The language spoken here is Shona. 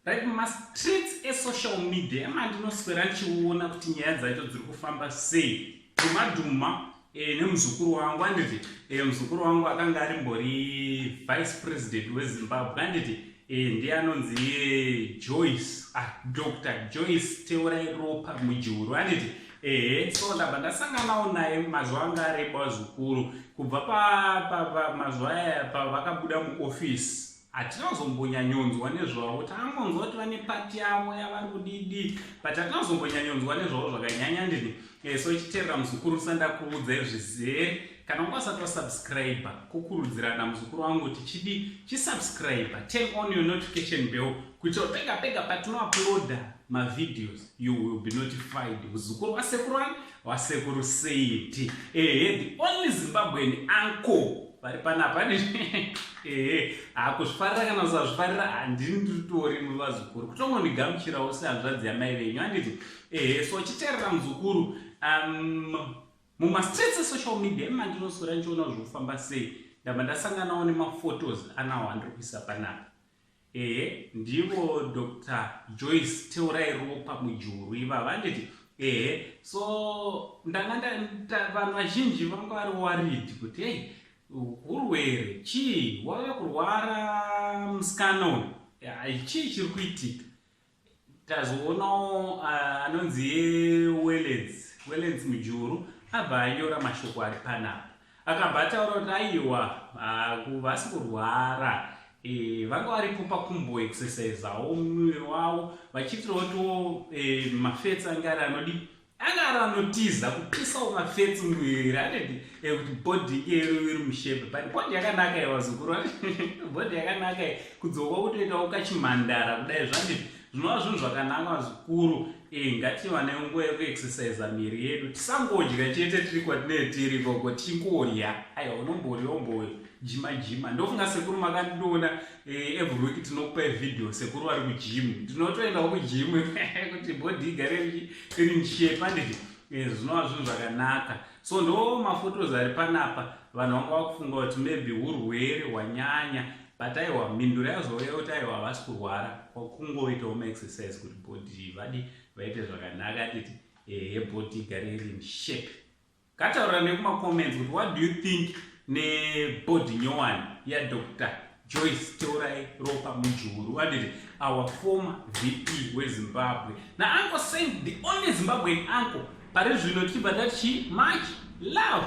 right mastreets esocial media emandinoswera ndichiona kuti nyaya dzacho dziri kufamba sei dhumadhuma e, nemuzukuru wangu anditi e, muzukuru wangu akanga arimbori vice president wezimbabwe anditi Eh, ndiye anonzi eh, joyce ah, dr joyce teurai ropa mujuru anditi ehe so ndabva ndasanganawo naye mazuva anga areba zvikuru kubva pamazuva aya pavakabuda muofisi hatina kuzombonyanyonzwa nezvavo takangonzwa kuti vane pati yavo yavari kudidi but hatina kuzombonyanyonzwa nezvavo zvakanyanya ndini eh, so ichiterera muzukuru sandakuudza izvizere Kana ungasati wasubscriber kukurudzirana muzukuru wangu kuti chidi chisubscriber, turn on your notification bell kuitira pega pega patinouploada mavideos you will be notified muzukuru wasekuru wani wasekuru seiti ehe the only zimbabwean uncle vari panapa ehe hakuzvifarira kana usazvifarira handini ndiritori muvazukuru kutongondigamuchirawo sehanzvadzi yamai venyu handiti ehe so chiterera muzukuru um, Muma streets e social media ima ndinoswera ndichiona kuti zvofamba sei ndabva ndasanganawo nemaphotos anawo andiri kuisa panapa ehe ndivo dr joyce teurai ropa mujuru ivavo anditi ehe so ndanga vanhu vazhinji vanga vari warid kuti hei urwere chii wave kurwara musikana uyu chii chiri kuitika Tazoonawo anonzi Wellens, Wellens Mujuru abva anyora mashoko ari panapa. Akabva ataura kuti aiwa vasi kurwara e, vanga varipo pakumbo exercisawo muviri wavo vachiitirawo tiwo e, mafets ange ari anodii Agara anotiza kupisawo mafetsi muviri anoti eh, kuti bhodhi iyero iri mushebe but bhodhi yakanaka ye vazukuru bhodhi yakanaka ye kudzoka kutoitawo kachimhandara kudai zvandizvi zvinova zvinhu zvakanaka vazukuru eh, ngatiwane nguva yekuexercisa miri yedu tisangodya chete tiri kwatinee tiri koko tichingodya aiwa unomborya umboyo jima jima ndofunga sekuru makandiona Eh, every week tinokupai video sekuru vari kujimu ndinotoendawo kujimu kuti bhodhi igare iri nshepa nditi eh, zvinova zvinhu zvakanaka so ndo mafotos ari panapa vanhu vanga vakufunga kuti maybe urwere hwanyanya but aiwa mhinduro yazouya kuti aiwa havasi kurwara kwakungoitawo maexercise kuti bhodhi vadi vaite zvakanaka nditi ehe eh, bhodhi igare iri nshepe Ngataurira nekuma comments kuti what do you think nebody nyowani yaDr Joyce Teurai Ropa Mujuru vaditi our former VP weZimbabwe nauncle Saint the only Zimbabwean uncle pari zvino tichibva tati chii much love